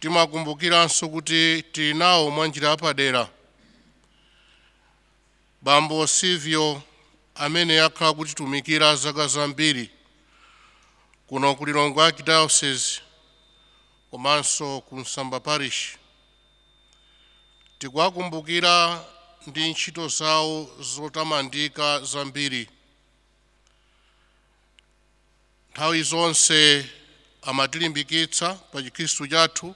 Tikumbukirenso kuti tili nawo mwanjira yapadera Bambo Silvio amene akhala akutitumikira zaka zambiri kuno ku Lilongwe Archdiocese komanso ku Msamba Parish. Tikuwakumbukira ndi ntchito zawo zotamandika zambiri. nthawi zonse amatilimbikitsa pa chikhristu chathu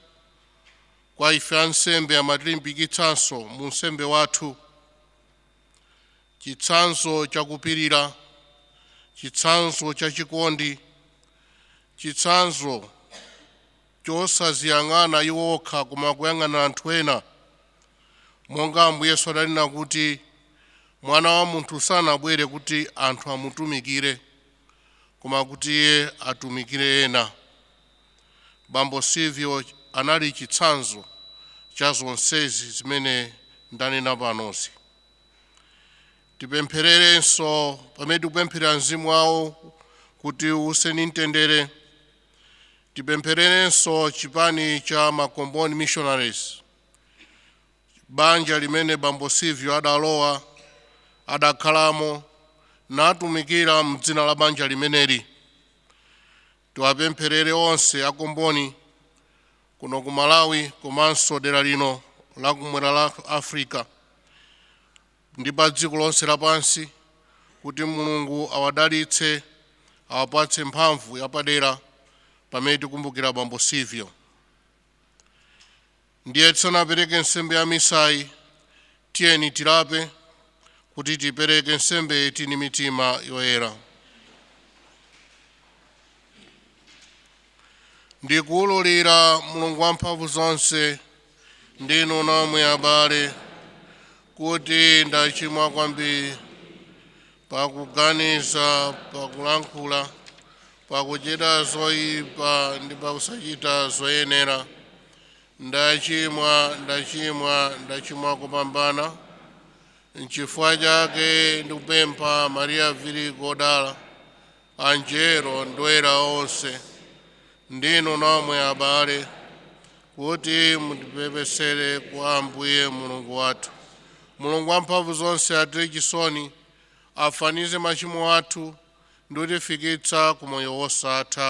kwa ife ansembe amatilimbikitsanso mu unsembe wathu chitsanzo chakupirira chitsanzo chachikondi chitsanzo chosaziyang'ana iwo okha koma kuyang'ana anthu ena monga ambuye yesu adanena kuti mwana wa munthu sanabwere kuti anthu amutumikire koma kuti iye atumikire ena. Bambo Silvio anali chitsanzo cha zonsezi zimene ndanena panozi. Tipemphererenso pamene tikupempherera mzimu wawo kuti uuse mu mtendere. Tipemphererenso chipani cha Makomboni Missionaries Banja limene bambo Silvio adalowa, adakhalamo, natumikira m'dzina la banja limeneli. Tiwapempherere onse a Comboni kuno ku Malawi komanso dera lino la kumwera la Africa ndi pa dziko lonse lapansi kuti Mulungu awadalitse, awapatse mphamvu yapadera pamene tikumbukira bambo Silvio. Ndiye tisanapereke nsembe ya misayi, tiyeni tilape kuti tipereke nsembeyi tili ndi mitima yoyera. Ndikuwululira Mulungu wamphamvu zonse ndi inu nomwe abale, kuti ndachimwa kwambiri pakuganiza pakulankhula pakuchita zoyipa ndi pakusachita zoyenera ndachimwa ndachimwa ndachimwa kupambana nchifukwa chake ndikupempha mariya virigo odala angelo ndi oyera onse ndi inu nomwe abale kuti mundipepesere kwa ambuye mulungu wathu mulungu wamphamvu zonse atichitire chisoni afafanize machimo athu ndi kutifikitsa ku moyo wosatha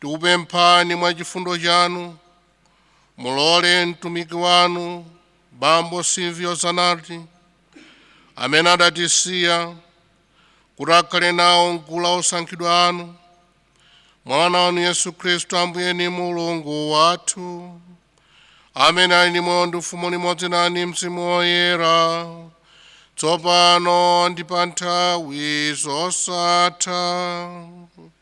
tikupemphani mwa chifundo chanu mulole mtumiki wanu bambo silvio zanati amene adatisiya kuti akhale nawo mgulu la osankhidwa anu mwa mwana wanu yesu khristu ambuye ni mulungu wathu amene ali ndi moyo ndi ufumu limodzi nanu ni mzimu woyera tsopano ndi pa nthawi zosatha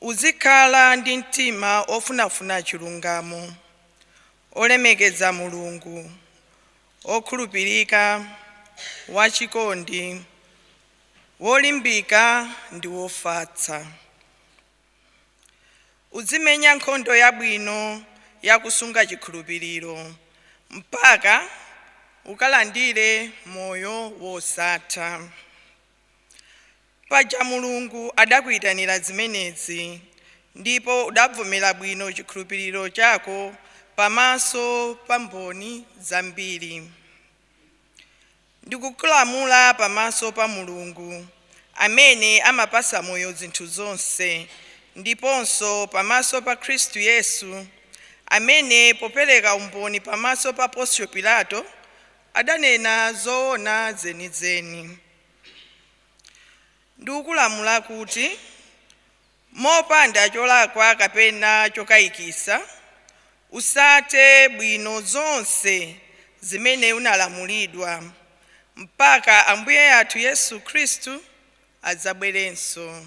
Uzikhala ndi mtima ofunafuna chilungamo, olemekeza Mulungu, okhulupirika, wachikondi, wolimbika ndi wofatsa. Uzimenya nkhondo yabwino ya kusunga chikhulupiriro mpaka ukalandire moyo wosatha. Paja Mulungu adakuitanira zimenezi, ndipo udabvomera bwino chikhulupiriro chako pamaso pa mboni zambiri. Ndikukulamula pamaso pa Mulungu, amene amapatsa moyo zinthu zonse, ndiponso pamaso pa Khristu Yesu, amene popereka umboni pamaso pa Ponsio Pilato, adanena zoona zenizeni. Ndikukulamula kuti mopanda cholakwa kapena chokayikisa usate bwino zonse zimene unalamulidwa mpaka Ambuye athu Yesu Khristu adzabwerenso.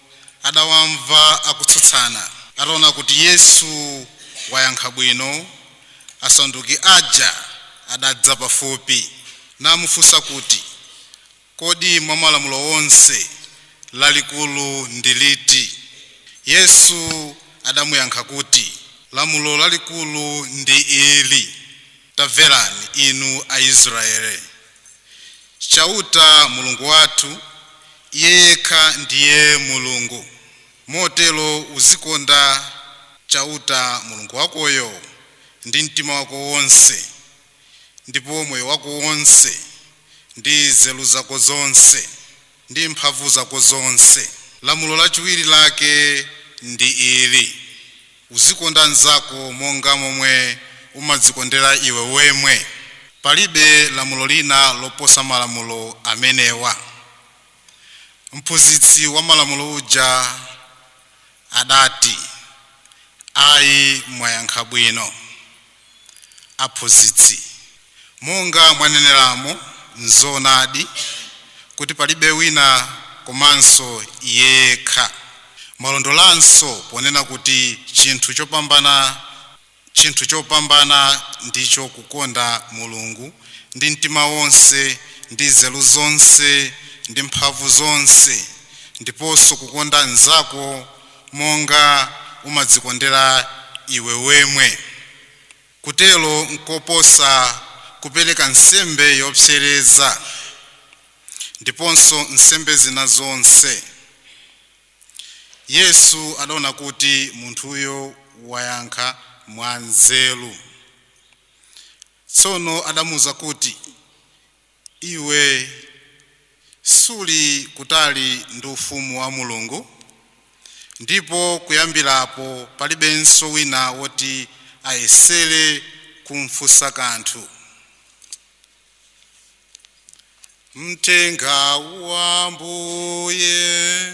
adawamva akutsutsana. Ataona kuti Yesu wayankha bwino, Asaduki aja adadza pafupi, namufunsa kuti, Kodi mwa Malamulo onse, lalikulu ndi liti? Yesu adamuyankha kuti, Lamulo lalikulu ndi ili, Tamverani, inu Aisraele! Chauta, Mulungu wathu, Iye yekha ndiye Mulungu. Motero uzikonda Chauta, Mulungu wakoyo, ndi mtima wako wonse, ndipo moyo wako wonse, ndi nzeru zako zonse. ndi mphamvu zako zonse. Lamulo lachiwiri lake ndi ili, Uzikonda mnzako monga momwe umadzikondera iwe wemwe. Palibe lamulo lina loposa malamulo amenewa. Mphunzitsi wa malamulo uja adati, Ayi, mwayankha bwino. Aphunzitsi, monga mwaneneramo, nzoonadi kuti palibe wina komanso iye yekha. Mwalondolanso ponena kuti chinthu chopambana chinthu chopambana ndicho kukonda Mulungu ndi mtima wonse, ndi nzeru zonse, ndi mphamvu zonse, ndiponso kukonda mnzako monga umadzikondera iwe mwemwe. Kutero nkoposa kupereka nsembe yopsereza ndiponso nsembe zina zonse. Yesu adaona kuti munthuyo wayankha mwanzeru. Tsono adamuuza kuti, Iwe suli kutali ndi Ufumu wa Mulungu, ndipo kuyambira apo palibenso wina woti ayesere kumfunsa kanthu. Mthenga wa Ambuye.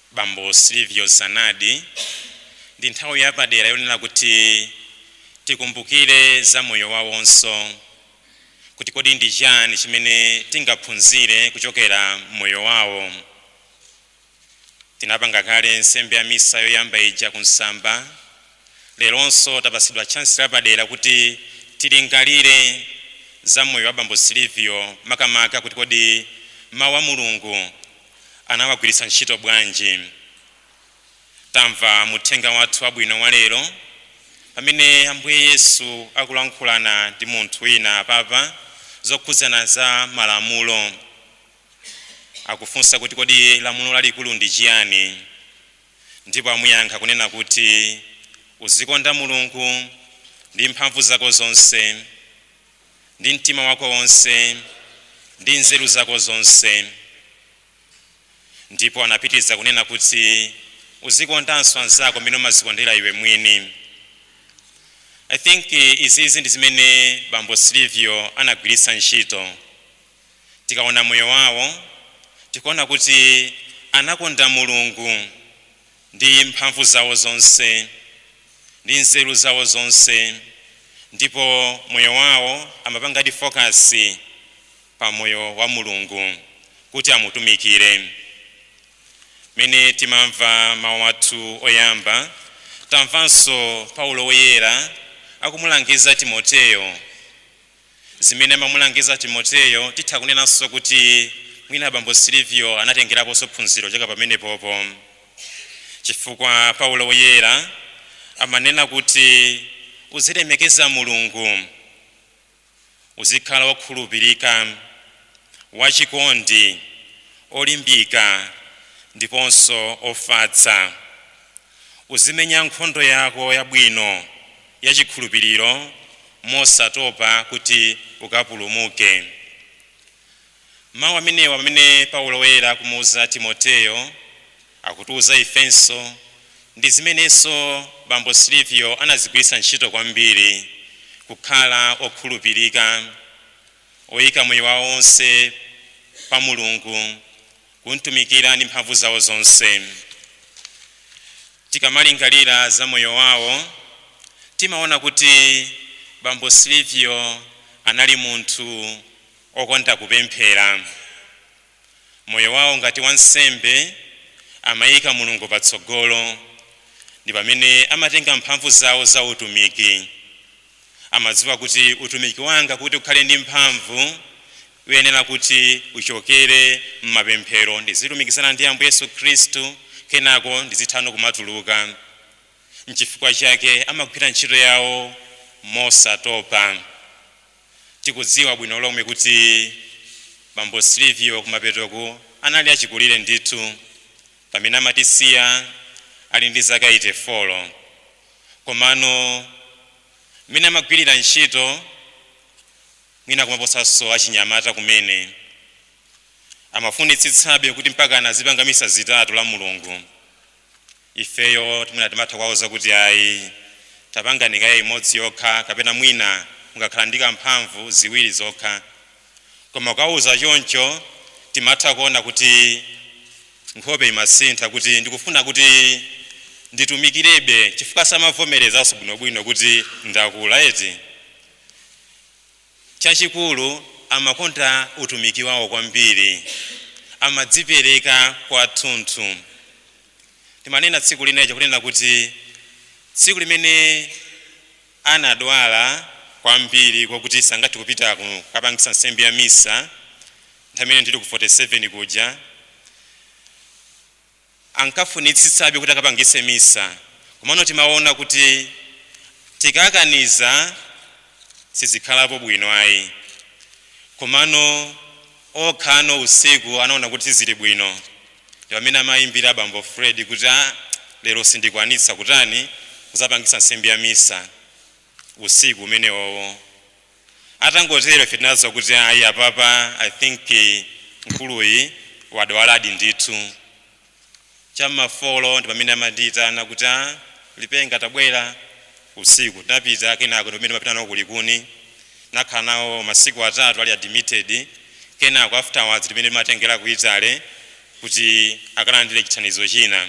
Bambo Silvio Zanardi, ndi nthawi yapadera yonena kuti tikumbukire za moyo wawonso, kuti kodi ndi chani chimene tingaphunzire kuchokera m'moyo wawo. Tinapanga kale nsembe ya misa yoyamba ija ku Nsamba, leronso tapatsidwa chansi lapadera kuti tilingalire za moyo wa Bambo Silvio, makamaka kuti kodi Mawu a Mulungu, anawagwiritsa ntchito bwanji? Tamva mu Mthenga wathu wabwino wa lero pamene Ambuye Yesu akulankhulana ndi munthu wina apapa zokhudzana za malamulo. Akufunsa kuti kodi lamulo lalikulu ndi chiyani? Ndipo amuyankha kunena kuti uzikonda Mulungu ndi mphamvu zako zonse, ndi mtima wako wonse ndi nzeru zako zonse ndipo anapitiriza kunena kuti uzikondanso anzako mmene umazikondera iwe mwini i think eh, izizi ndi zimene bambo silivio anagwiritsa ntchito tikaona moyo wawo tikuona kuti anakonda mulungu ndi mphamvu zawo zonse, ndi nzeru zawo zonse, ndipo moyo wawo amapangadi focus pa moyo wa Mulungu kuti amutumikire. Mmene timamva mawu athu oyamba, tamvanso Paulo Woyera akumulangiza Timoteyo Zimene amamulangiza Timoteo titha kunenanso kuti mwina bambo Silvio anatengeraponso phunziro kuchoka pamenepopo chifukwa Paulo Woyera amanena kuti, Uzilemekeza Mulungu, uzikhala wokhulupirika, wachikondi, olimbika ndiponso ofatsa. Uzimenya nkhondo yako yabwino ya chikhulupiriro mosatopa kuti ukapulumuke. Mawu amenewa amene Paulo Woyera akumuuza Timoteo akutiuza ifenso. Ndi zimenenso Bambo Silvio anazigwiritsa ntchito kwambiri, kukhala okhulupirika, oika moyo wawo wonse pa Mulungu. kumtumikira ndi mphamvu zawo zonse. Tikamalingalira za moyo wawo, timaona kuti bambo Silvio anali munthu okonda kupemphera. Moyo wawo ngati wansembe amaika Mulungu patsogolo, ndi pamene amatenga mphamvu zawo za utumiki. amadziwa kuti utumiki wanga kuti ukhale ndi mphamvu uyenera kuti uchokere m'mapemphero ndizilumikizana ndi ambuye yesu khristu kenako ndizitha no kumatuluka nchifukwa chake amagwira ntchito yawo mosatopa tikudziwa bwino lomwe kuti bambo silvio kumapetoku anali achikulire ndithu pamene amatisiya ali ndi zaka 84 komano mmene amagwirira ntchito mwina kumaposanso achinyamata kumene amafunitsitsabe kuti mpaka azipanga misa zitatu la mulungu ifeyo timaona timatha kuwauza kuti ayi tapangani kaye imodzi yokha kapena mwina mukakhala ndi kamphamvu ziwiri zokha koma ukawauza choncho timatha kuona kuti nkhope imasintha kuti ndikufuna kuti nditumikirebe chifukwa samavomerezanso bwinobwino kuti ndakula eti chachikulu amakonda utumiki wawo kwambiri amadzipereka kwathunthu timanena tsiku lina lija kunena kuti tsiku limene Anadwala kwambiri kwakuti sangathe kupita kukapangitsa Nsembe ya Misa nthawi imene ndili ku 47 kuja. Ankafunitsitsabe kuti akapangitse Misa komano timaona kuti tikakaniza sizikhalapo bwino ayi. Komano okha no usiku anaona kuti sizili bwino ndipamene amayimbira bambo Fred kuti ah lero sindikwanitsa kutani nzapangitsa nsembe ya misa usiku umenewowo atangotero ife tinaziwa kuti ayi apapa I think mkuluyi wadwaladi ndithu. cha m'ma 4 ndi pamene amandiitana kuti ah Lipenga tabwera usiku. Tinapita kenako ndi pamene timapita nawo ku Likuni. Tinakhala nawo masiku atatu ali admitted kenako afterwards ndi pamene timawatengera ku Italy kuti akalandire chithandizo china.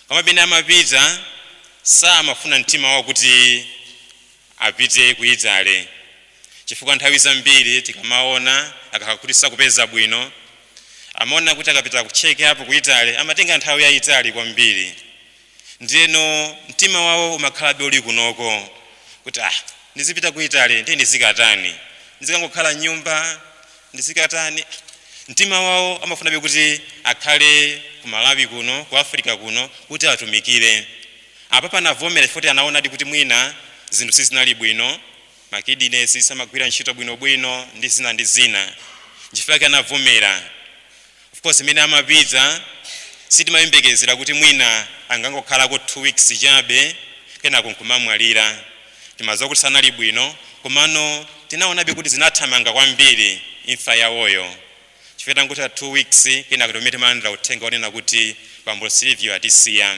Koma pamene amapita samafuna mtima wawo kuti apite ku Italy. chifukwa nthawi zambiri tikamaona akakhala kuti sakupeza bwino amaona kuti akapita ku check up ku Italy amatenga nthawi yayitali kwambiri ndiyeno mtima wawo umakhalabe uli kunoko kuti ah ndizipita ku Italy ndiye ndizikatani ndizikangokhala nyumba ndizikatani mtima wawo amafunabe kuti akhale ku Malawi kuno ku Africa kuno kuti atumikire apapa anavomera chifukwa anaonadi kuti mwina zinthu sizinali bwino ma kidneys samagwira ntchito bwino bwino ndi zina ndi zina nchifukwa chake anavomera of course mmene amapita sitimayembekezera kuti mwina angangokhalako 2 weeks chabe kenako nkumamwalira timadziwa kuti sanali bwino komano tinaonabe kuti zinathamanga kwambiri imfa yawoyo chifukwa itangotha 2 weeks kenako ndi pamene timalandira uthenga wonena kuti bambo Silvio atisiya.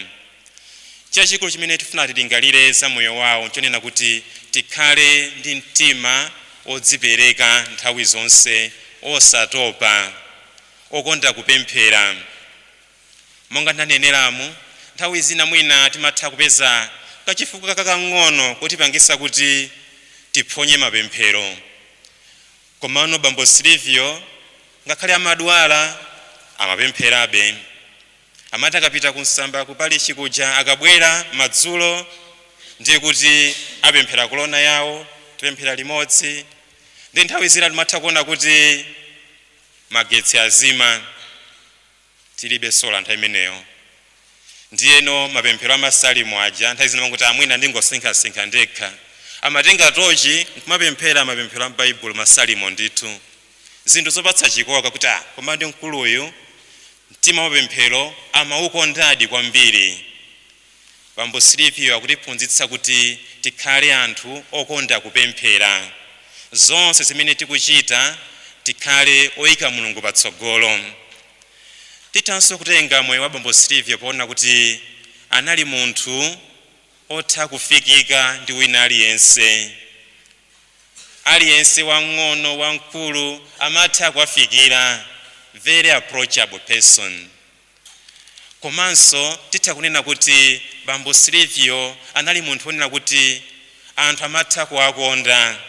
Chachikulu chimene tikufuna tilingalire za moyo wawo nchonena kuti tikhale ndi mtima odzipereka nthawi zonse, osatopa, okonda kupemphera. Monga ndaneneramu, nthawi zina mwina timatha kupeza kachifukwa kakang'ono kotipangitsa kuti tiphonye mapemphero. Komano bambo Silvio ngakhale amadwala, amapempherabe. Amati akapita ku Msamba ku parishi kuja akabwera madzulo ndiye kuti apemphera kolona yawo, tipemphera limodzi. Ndiye nthawi zina timatha kuona kuti magetsi azima. tilibe sola nthawi imeneyo ndiyeno mapemphero amasalimo aja nthawi zina umangoti ah mwina ndingosinkhasinkha ndekha amatenga tochi nkumapemphera mapemphero a m'baibulo masalimo ndithu zinthu zopatsa chikoka kuti ah koma ndi mkuluyu mtima wa mapemphero amaukondadi kwambiri Bambo Silvio akutiphunzitsa kuti tikhale anthu okonda kupemphera. Zonse zimene tikuchita tikhale oika Mulungu patsogolo. Tithanso kutenga moyo wa Bambo Silvio poona kuti anali munthu otha kufikika ndi wina aliyense. Aliyense wamng'ono, wamkulu amatha kuwafikira, very approachable person. Komanso titha kunena kuti bambo Silvio anali munthu wonena kuti anthu amatha kuwakonda.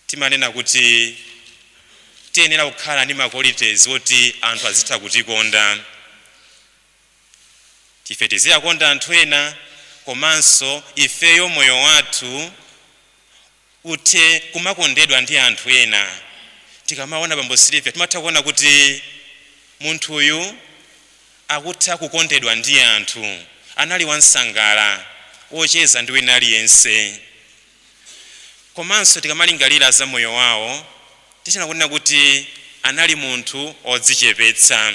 Timanena kuti tiyenera kukhala ndi ma qualities woti anthu azitha kutikonda. Ife tiziyakonda anthu ena komanso ifeyo moyo wathu uthe kumakondedwa ndi anthu ena. Tikamaona bambo Silvio timatha kuona kuti munthuyu akutha kukondedwa ndi anthu. Anali wansangala, wocheza ndi wina aliyense. Komanso tikamalingalira za moyo wawo tithanso kunena kuti anali munthu odzichepetsa.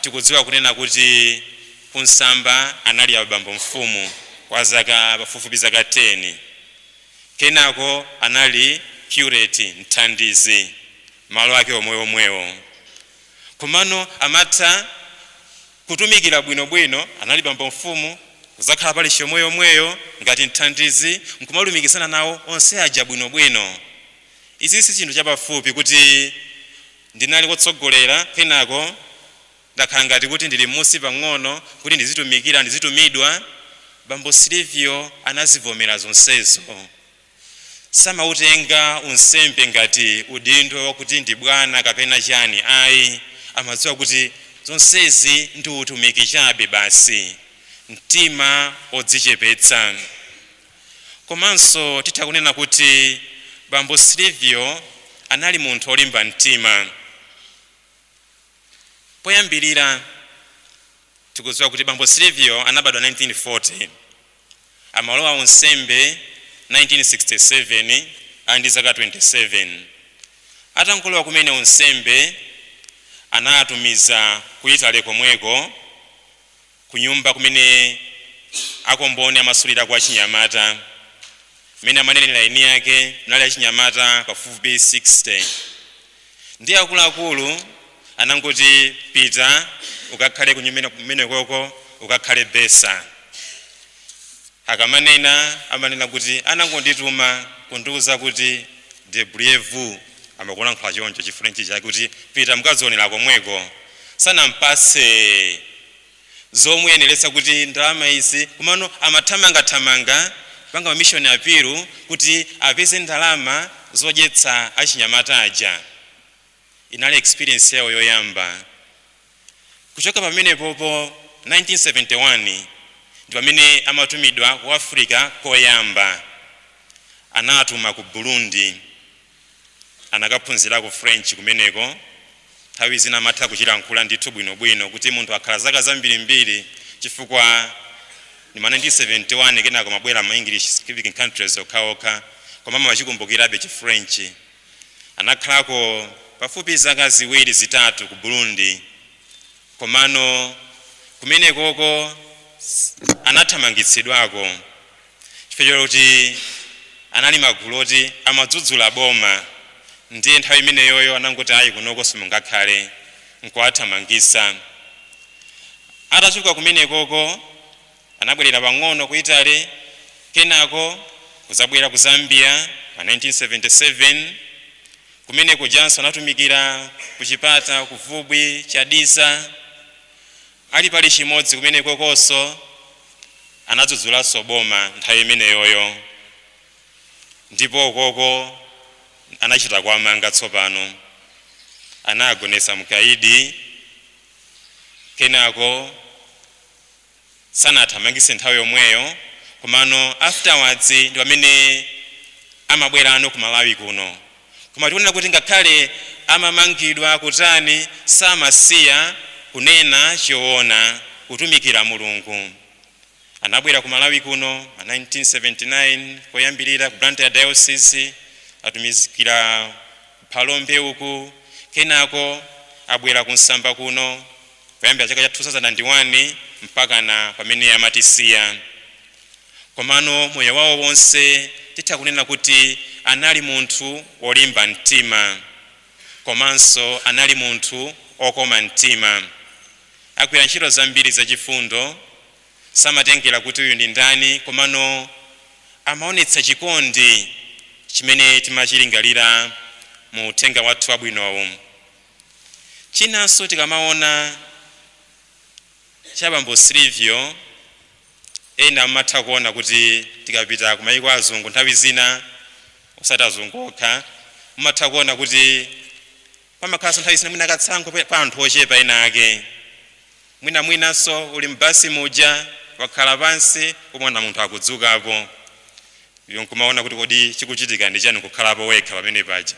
tikudziwa kunena kuti ku Nsamba anali abambo mfumu kwa zaka pafupifupi zaka 10. Kenako anali curate, mthandizi, malo ake omweomwewo. Komano amatha kutumikira bwinobwino, anali bambo mfumu, kudzakhala parish yomweyomweyo ngati mthandizi n'kumatumikirana nawo onse aja bwinobwino. Izi si chinthu chapafupi kuti Ndinali wotsogolera, kenako ndakhala ngati kuti ndili mmusi pang'ono, kuti ndizitumikira, ndizitumidwa. Bambo Silvio anazivomera zonsezo. Samautenga unsembe ngati udindo wakuti ndi bwana kapena chani ayi, amadziwa kuti zonsezi ndi utumiki chabe basi. Mtima odzichepetsa. Komanso titha kunena kuti bambo Silvio anali munthu wolimba mtima. Poyambirira tikudziwa kuti bambo Silvio anabadwa 1940, amalowa unsembe 1967 ali ndi zaka 27. Atangolowa kumene unsembe anawatumiza ku Italy komweko kunyumba kumene a Comboni amasulirako achinyamata, mmene amanenera eni ake munali achinyamata pafupifupi 60. Ndiye akuluakulu anangoti, Pita ukakhale kunyumba kumenekoko, ukakhale bursar. Akamanena amanena kuti anangondituma kundiuza kuti débrouillez-vous amakulankhula choncho chi french chake kuti pita mukadzionela komweko. Sanampatse zomuyenereza kuti ndalama izi komano amathamanga thamanga kupanga ma mission appeal kuti apeze ndalama zodyetsa achinyamata aja. Inali experience yawo yoyamba. Kuchoka pamenepopo, 1971 ndi pamene amatumidwa ku Africa koyamba. Anawatuma ku Burundi. Anakaphunzirako French kumeneko. Nthawi zina amatha kuchilankhula ndithu bwinobwino kuti munthu akhala zaka zambirimbiri chifukwa ndi ma 1971 kenako amabwera ma English speaking countries okhaokha koma amachikumbukirabe chi French. Anakhalako pafupi zaka ziwiri zitatu ku Burundi komano kumenekoko anathamangitsidwako chifukwa choti anali magulu oti amadzudzula boma ndiye nthawi imeneyoyo anangoti ayi kunoko simungakhale nkuwathamangisa. Atachoka kumenekoko anabwerera pang'ono ku Italy, kenako kudzabwera ku Zambia ma 1977. Kumenekujanso anatumikira ku Chipata, ku Vubwi, Chadiza. Ali parishi imodzi kumenekokonso, anadzudzulanso boma nthawi imeneyoyo ndipo ukoko anachita kuwamanga tsopano. Anagonetsa mkaidi, kenako. sanawathamangise nthawi yomweyo komano afterwards ndipamene amabwerano ku Malawi kuno koma tikunena kuti ngakhale amamangidwa kutani samasiya kunena choona kutumikira Mulungu anabwera ku Malawi kuno ma 1979 koyambirira ku Blantyre diocese atumikira ku Phalombe uku kenako abwera ku Msamba kuno kuyambira chaka cha 2001 mpakana pamene amatisiya. Komano moyo wawo wonse titha kunena kuti anali munthu wolimba mtima komanso anali munthu okoma mtima. Agwira ntchito zambiri zachifundo, samatengera kuti uyu ndi ndani komano amaonetsa chikondi chimene timachilingalira mu uthenga wathu wabwinowu. Chinanso tikamaona cha bambo Silvio, ena mumatha kuona kuti tikapita ku mayiko a azungu nthawi zina, osati azungu okha, mumatha kuona kuti pamakhalanso nthawi zina mwina katsankho ka anthu ochepa ena ake. Mwina mwinanso uli m'basi muja wakhala pansi kumaona munthu akudzukapo iwe nkumaona kuti kodi chikuchitika ndi chani nkukhalapo wekha pamene paja.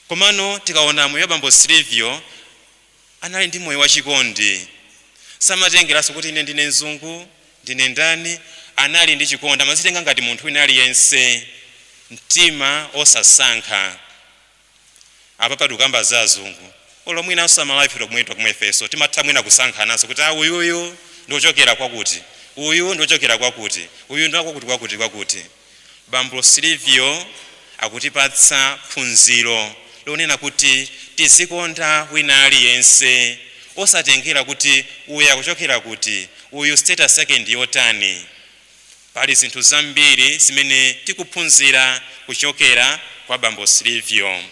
Komano tikaona moyo wa bambo Silivio anali ndi moyo wachikondi samatengeranso kuti ine ndine mzungu ndine ndani anali ndi chikondi amazitenga ngati munthu wina aliyense mtima osasankha. Apapa tikukamba za azungu olo mwinanso amalawi ife tomwe timatha ifenso timatha mwina kusankhananso kuti a uyuyu ndi ochokera kwakuti uyu ndi ochokera kwakuti uyu ndi wakwakuti kwakuti kwakuti. Bambo Silivio akutipatsa phunziro lonena kuti tizikonda wina aliyense osatengera kuti uyu akuchokera kuti uyu status yake ndi yotani. Pali zinthu zambiri zimene tikuphunzira kuchokera kwa bambo Silvio.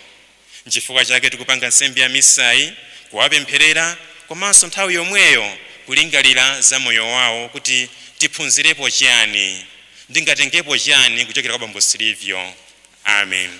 N'chifukwa chake tikupanga nsembe ya misayi, kuwapempherera komanso nthawi yomweyo kulingalira za moyo wawo kuti tiphunzirepo chiyani? Ndingatengepo chiyani kuchokera kwa bambo Silvio? Amen.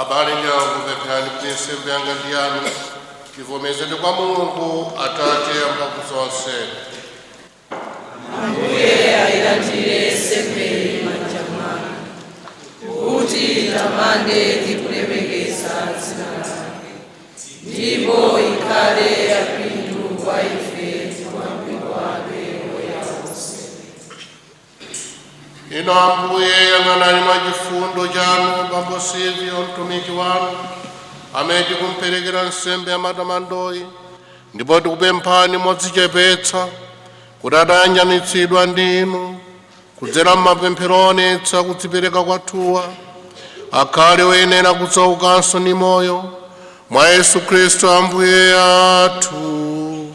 abale ndi alongo pempherani kuti nsembe yanga ndi yanu ivomerezedwe kwa mulungu atate amphamvu zonse ambuye ayilandire nsembeyi m'manja mwanu kuti itamande ndi kulemekeza dzina lake ndipo ikhale yapindu kwa ife Inu Ambuye, yang'anani mwa chifundo chanu bambo Silvio mtumiki wanu amene tikumperekera nsembe ya matamandoyi ndipo tikupemphani modzichepetsa kuti atayanjanitsidwa ndi inu kudzera m'mapemphero onetsa kudzipereka kwathuwa akhale oyenera kudzaukanso ndi moyo mwa yesu khristu ambuye athu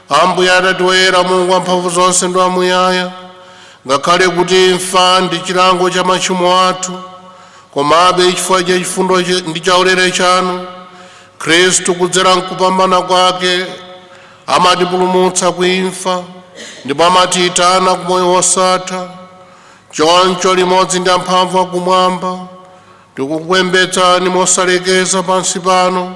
Ambuye Atate Woyera, Mulungu wamphamvu zonse ndi wamuyaya, ngakhale kuti imfa ndi chilango cha machimo athu, komabe chifukwa cha chifundo cha- ndi chaulere chanu, Khristu kudzera mkupambana kwake amatipulumutsa ku imfa ndipo amatiyitana ku moyo wosatha. Choncho limodzi ndi amphamvu akumwamba tikukupembedzani mosalekeza pansi pano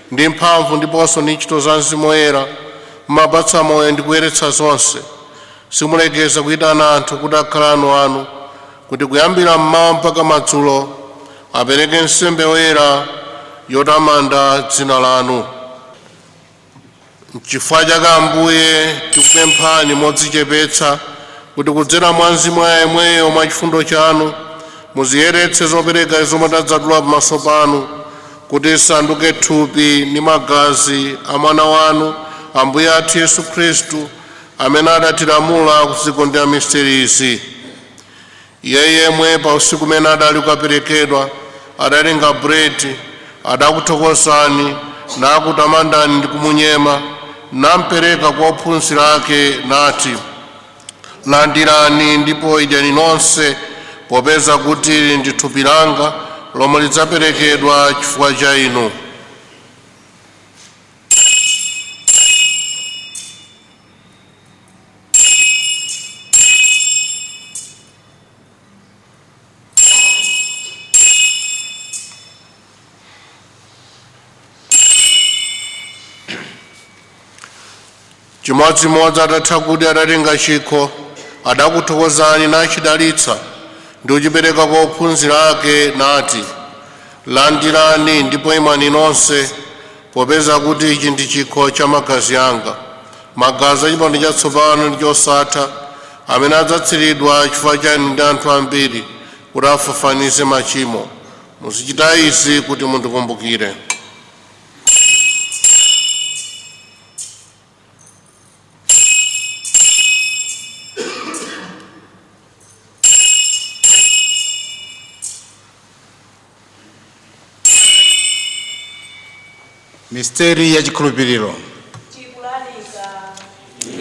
ndi mphamvu ndiponso ndi ntchito za Mzimu Woyera, mumapatsa moyo ndi kuyeretsa zonse. Simulekeza kuyitana anthu kuti akhale anu anu, kuti kuyambira mmawa mpaka madzulo apereke nsembe yoyera yotamanda dzina lanu. Nchifukwa chake, Ambuye, tikupemphani modzichepetsa kuti kudzera mwa Mzimu Woyera yemweyo mwa chifundo chanu muziyeretse zopereka zomwe tadzatula pamaso panu kuti zisanduke thupi ndi magazi a Mwana wanu Ambuye athu Yesu Khristu amene adatilamula kuzikondwerera misterizi. Iye yemwe pa usiku umene adali kukaperekedwa adatenga buledi, adakuthokozani, nakutamandani ndi kumunyema, nampereka kwa ophunzira ake, nati, Landirani ndipo idyani nonse, popeza kuti ili ndi thupi langa lomwe lidzaperekedwa chifukwa cha inu. chimodzimodzi atatha kudya adatenga chikho adakuthokozani nachidalitsa ndi kuchipereka kwa ophunzira ake nati landirani ndipo imwani nonse Popeza kuti ichi ndi chikho cha magazi anga, magazi a chipangano chatsopano ndi chosatha, amene adzatsiridwa chifukwa cha inu ndi anthu ambiri kuti afafanize machimo, muzichita izi kuti mundikumbukire. misteri ya chikhulupiriro tikulalikira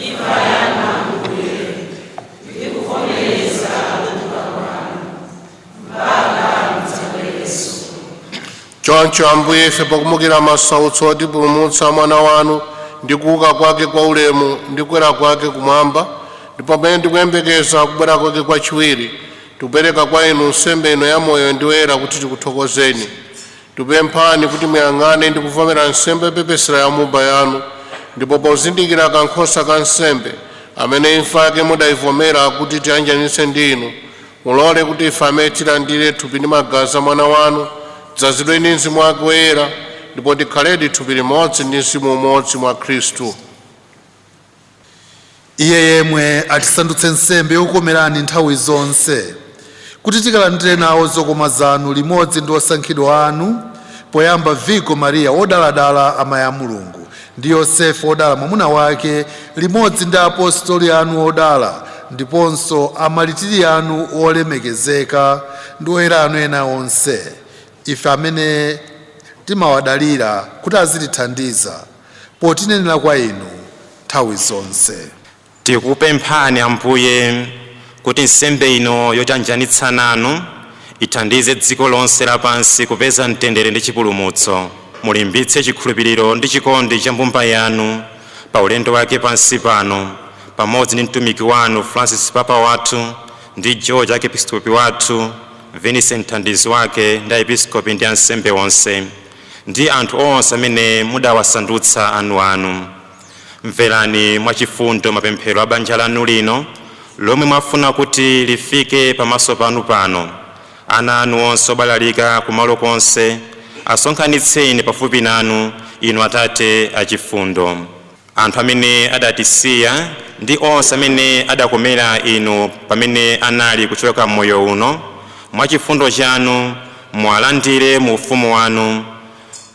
imfa yanu ambuye ndi kuvomereza kuuka kwanu mpaka mudzabwerenso choncho ambuye ife pokumbukira masautso otipulumutsa a mwana wanu ndi kuuka kwake kwa ulemu ndi kukwera kwake kumwamba ndipo pamene tikuyembekeza kubwera kwake kwachiwiri Tikupereka kwa inu nsembe ino yamoyo ndi yoyera kuti tikuthokozeni. Tikupemphani kuti muyang'ane ndi kuvomera nsembe yopepesera ya mbumba yanu, ndipo pozindikira kankhosa ka nsembe, amene imfa yake mudayivomera kuti itiyanjanitse ndi inu, mulole kuti ife amene tilandire thupi ndi magazi a Mwana wanu, tidzazidwe ndi Mzimu wake Woyera, ndipo tikhaledi thupi limodzi ndi mzimu umodzi mwa Khristu. iye yemwe atisandutse nsembe yokukomerani nthawi zonse kuti tikalandire nawo zokoma zanu limodzi ndi osankhidwa anu poyamba virigo mariya wodaladala amayi a mulungu ndi yosefe wodala mwamuna wake limodzi ndi apostoli anu odala ndiponso amaritiri anu olemekezeka ndi oyera anu ena onse ife amene timawadalira kuti azitithandiza potinenera kwa Inu nthawi zonse. Tikupemphani, Ambuye, kuti nsembe ino yotianjanitsa nanu ithandize dziko lonse lapansi kupeza mtendere ndi chipulumutso. Mulimbitse chikhulupiriro ndi chikondi cha mbumba yanu pa ulendo wake pansi pano, pamodzi ndi mtumiki wanu Francis Papa wathu, ndi George Arkepiskopi wathu, Vincent mthandizi wake, ndi Aepiskopi ndi ansembe onse. ndi anthu onse amene mudawasandutsa anuanu. Mverani mwachifundo mapemphero a banja lanu lino lomwe mwafuna kuti lifike pamaso panu pano. Ana anu onse obalalika kumalo konse asonkhanitseni pafupi nanu, Inu Atate achifundo. Anthu amene adatisiya ndi onse amene adakomera Inu pamene anali kuchoka m'moyo uno, mwa chifundo chanu muwalandire mu Ufumu wanu,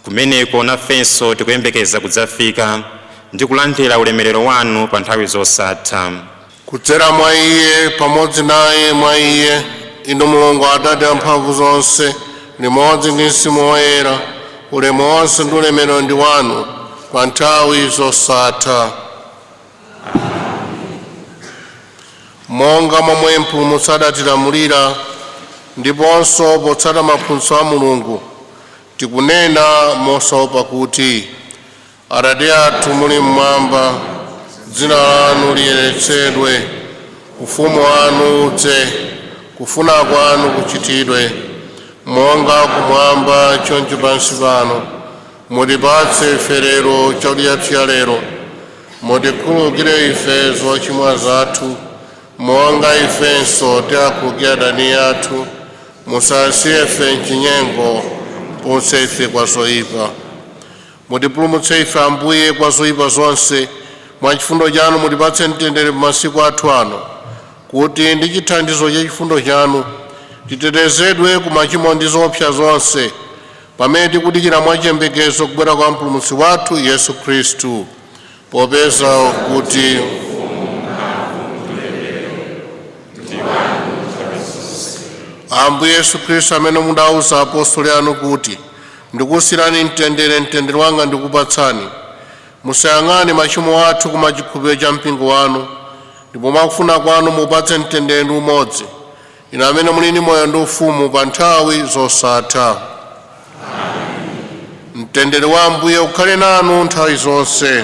kumeneko nafenso tikuyembekeza kudzafika ndi kulandira ulemerero wanu pa nthawi zosatha. kudzera mwa iye pamodzi naye mwa iye inu mulungu atate amphamvu zonse limodzi ndi mzimu woyera ulemu wonse ndi ulemerero ndi wanu pa nthawi zosatha monga momwe mpulumutsi adatilamulira ndiponso potsata maphunzitso a mulungu tikunena mosaopa kuti Atate athu muli mmwamba, dzina lanu liyeretsedwe, ufumu wanu udze, kufuna kwanu kuchitidwe monga kumwamba choncho pansi pano. Mutipatse ife lero chakudya chathu cha lero, mutikhululukire ife zochimwa zathu monga ifenso tiwakhululukira adani athu, musasiye ife mchinyengo, mutipulumutse ife kwa zoyipa. Mutipulumutse ife, Ambuye, kwa zoipa zonse, mwa chifundo chanu mutipatse mtendere pa masiku athu ano, kuti ndi chithandizo cha chifundo chanu titetezedwe ku machimo ndi zoopsa zonse, pamene tikudikira mwa chiyembekezo kubwera kwa Mpulumutsi wathu Yesu Khristu, popeza kuti ufumu ulemerero ndi wanu. Ambuye Yesu Khristu amene mudauza apostoli anu kuti Ndikusiyirani mtendere, mtendere wanga ndikupatsani. Musayang'ane machimo athu koma chikhulupiriro cha mpingo wanu, ndipo mwakufuna kwanu muupatse mtendere ndi umodzi, inu amene muli ndi moyo ndi ufumu pa nthawi zosatha. Mtendere wa Ambuye ukhale nanu nthawi zonse.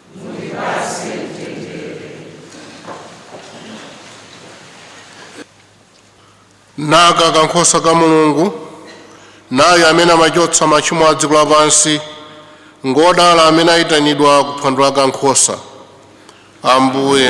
naka kankhosa ka mulungu nayu amene amachotsa machimo a dziko lapansi ngodala amene ayitanidwa ku phwando la kankhosa ambuye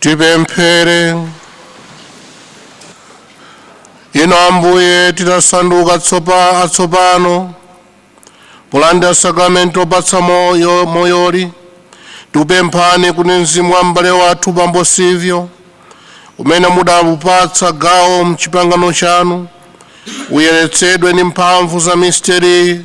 tipemphere ino ambuye titasanduka atsopano polandira sakramenti opatsa moyoli tikupemphani kuti mzimu wa m'bale wathu bambo silvio umene mudaupatsa gawo mchipangano chanu uyeretsedwe ndi mphamvu za misteriyi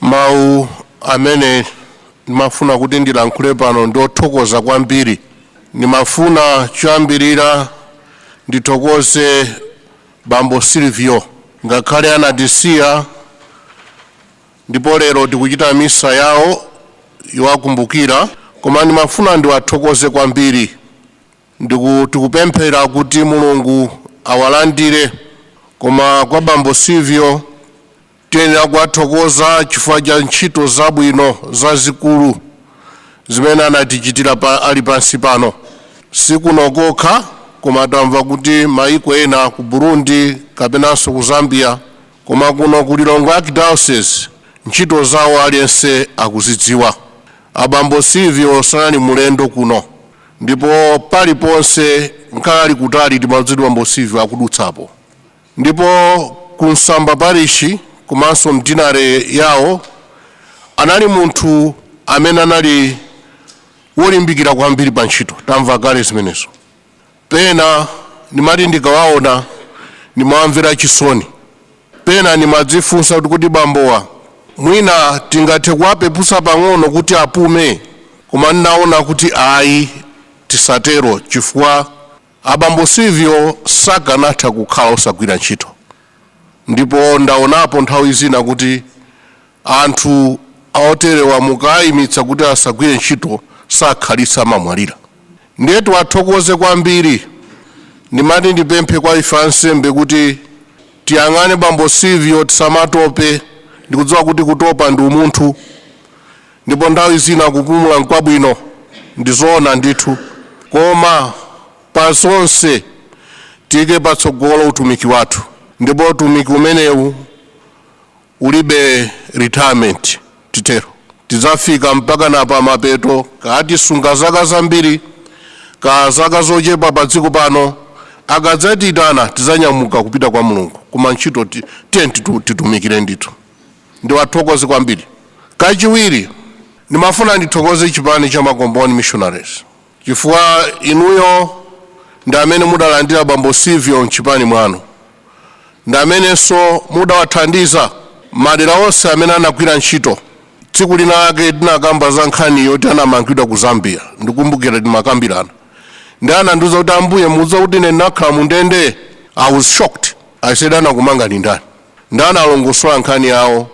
Mawu amene ndimafuna kuti ndilankhule pano ndi othokoza kwambiri. Ndimafuna choyambirira ndithokoze bambo Silvio. Ngakhale anatisiya ndipo lero tikuchita misa yawo yowakumbukira, koma ndimafuna ndiwathokoze kwambiri. Tikupemphera kuti Mulungu awalandire, koma kwa bambo Silvio, Tiyenera kuwathokoza chifukwa cha ntchito zabwino zazikulu zimene anatichitira ali pansi pano. Si kuno kokha koma tamva kuti mayiko ena ku Burundi kapenanso ku Zambia koma kuno ku Lilongwe Archdiocese ntchito zawo aliyense akuzidziwa. Abambo Silvio sanali mlendo kuno ndipo paliponse ngakhale ali kutali timadziwa kuti Bambo Silvio akudutsapo. Ndipo ku Msamba Parishi komanso m'dinale yawo anali munthu amene anali wolimbikira kwambiri pa ntchito. Tamva kale zimenezo. Pena ndimati ndikawaona ndimawamvera chisoni. Pena ndimadzifunsa kuti kodi bambowa mwina tingathe kuwapeputsa pang'ono kuti apume? Koma ndinaona kuti ayi, tisatero chifukwa Abambo Silvio sakanatha kukhala osagwira ntchito ndipo ndaonapo nthawi zina kuti anthu oterewa mukaayimitsa kuti asagwire ntchito sakhalitsa amamwalira. Ndiye tiwathokoze kwambiri. Ndimati ndipemphe kwa ife ansembe kuti tiyang'ane bambo Silvio tisamatope ndikudziwa kuti kutopa ndi umunthu. Ndipo nthawi zina kupumula n'kwabwino, ndi zoona ndithu. Koma pa zonse, tiike patsogolo utumiki wathu, ndipo utumiki umenewu ulibe retirement, titero. Tidzafika mpakana pa mapeto, kaya tisunge zaka zambiri kaya zaka zochepa padziko pano, akadzatiitana tidzanyamuka kupita kwa Mulungu. Koma ntchito, tiyeni titumikire ndithu. ndiwathokoze kwambiri. Kachiwiri, ndimafuna ndithokoze chipani cha Makomboni Missionaries chifukwa inuyo ndi amene mudalandira bambo Silvio m'chipani mwanu ndi amenenso mudawathandiza madera onse amene anagwira ntchito. Tsiku linalake tinakamba za nkhani yoti anamangidwa ku Zambia, ndikumbukira timakambirana ndiye anandiuza kuti ambuye mukudziwa kuti ine ndinakhala mu ndende? I was shocked, I said anakumangani ndani? Ndani? Analongosola nkhani yawo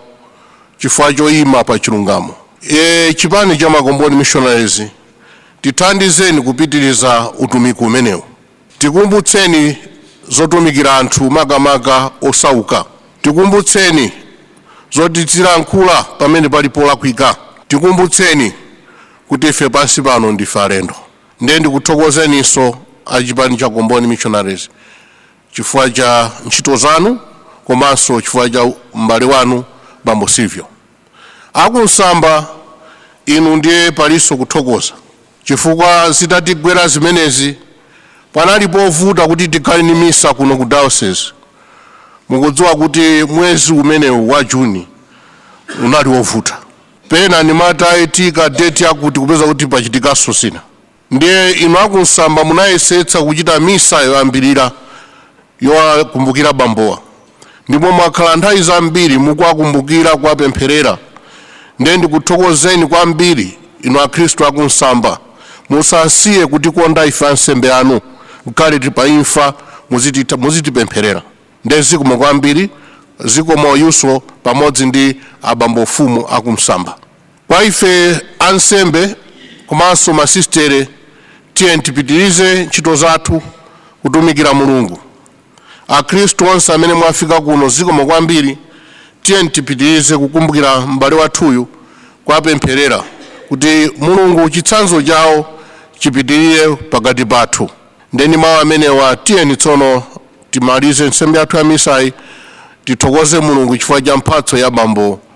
chifukwa choima pa chilungamo. A chipani cha Makomboni Missionaries tithandizeni kupitiliza utumiki umenewu. Tikumbutseni zotumikira anthu makamaka osauka. Tikumbutseni zoti tizilankhula pamene pali polakwika. Tikumbutseni kuti ife pansi pano ndife alendo. Ndiye ndikuthokozeninso a chipani cha Komboni Missionaries chifukwa cha ntchito zanu komanso chifukwa cha m'bale wanu bambo Silvio. A ku Msamba inu ndiye palinso kuthokoza chifukwa zitatigwera zimenezi panali povuta kuti tikhale ndi misa kuno ku diocese. Mukudziwa kuti mwezi umenewu wa Juni unali wovuta, pena ndimati taika deti yakuti kupeza kuti pachitikanso zina. Ndiye inu a ku Msamba munayesetsa kuchita misa yoyambirira yowakumbukira bambowa ndipo mwakhala nthawi zambiri mukuwakumbukira kuwapempherera ndiye ndikuthokozeni kwambiri inu akhristu a ku Msamba musasiye kutikonda ife ansembe anu ngakhale tili pa imfa muzitipempherera ndiye zikomo kwambiri zikomo inuso pamodzi ndi abambo mfumu a ku Msamba Kwa ife ansembe komanso masisitere, tiyeni tipitirize ntchito zathu kutumikira Mulungu. Akhristu onse amene mwafika kuno, zikomo kwambiri. Tiyeni tipitirize kukumbukira m'bale wathuyu, kuwapempherera kuti Mulungu chitsanzo chawo chipitirire pakati pathu. Nde ndi mawu amenewa, tiyeni tsono timalize nsembe yathu ya misayi, tithokoze Mulungu chifukwa cha mphatso ya bambo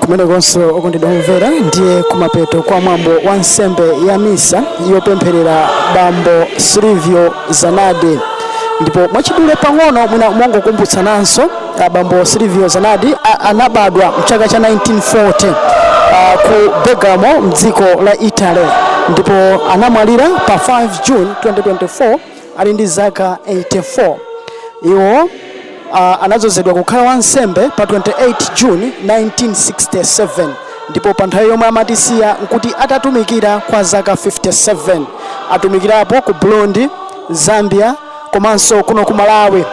kumenekonso okondedwa omvera ndiye kumapeto kwa mwambo wa nsembe ya misa yopempherera bambo silvio zanadi ndipo mwachidule pang'ono mwina mongokumbutsananso ah, bambo silvio zanadi a- anabadwa mchaka cha 1940 ah, ku bergamo mdziko la italy ndipo anamwalira pa 5 june 2024 ali ndi zaka 84. Iwo a, anadzozedwa kukhala wansembe pa 28 June 1967 ndipo pa nthawi yomwe amatisiya nkuti atatumikira kwa zaka 57. Atumikirapo ku Burundi, Zambia komanso kuno ku Malawi.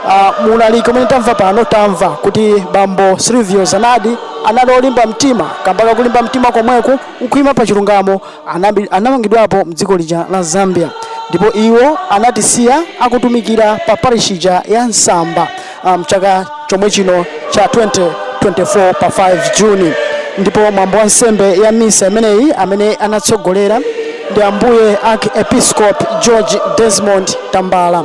Uh, muulaliki umene tamva lero pano tamva kuti bambo Silvio Zanadi anali olimba mtima kamba kakulimba mtima komweku nkuima pa chilungamo Anabi- anamangidwapo mdziko lija la zambia ndipo iwo anatisiya akutumikira pa parish ija ya msamba ah, mchaka chomwe chino cha 2024 pa 5 juni ndipo mwambo wa nsembe ya misa imeneyi amene anatsogolera ndi ambuye archiepiscope george desmond tambala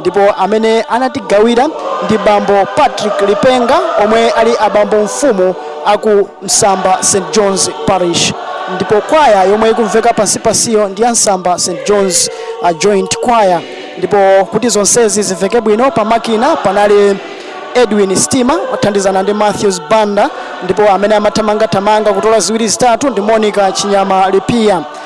ndipo amene anatigawira ndi bambo Patrick Lipenga omwe ali abambo mfumu aku Msamba St John's Parish ndipo kwaya yomwe ikumveka pansi pansiyo ndi ya Msamba St John's a Joint Choir ndipo kuti zonsezi zimveke bwino pa makina panali Edwin Stima othandizana ndi Matthews Banda ndipo amene amathamangathamanga kutola ziwiri zitatu ndi Monica Chinyama Lipia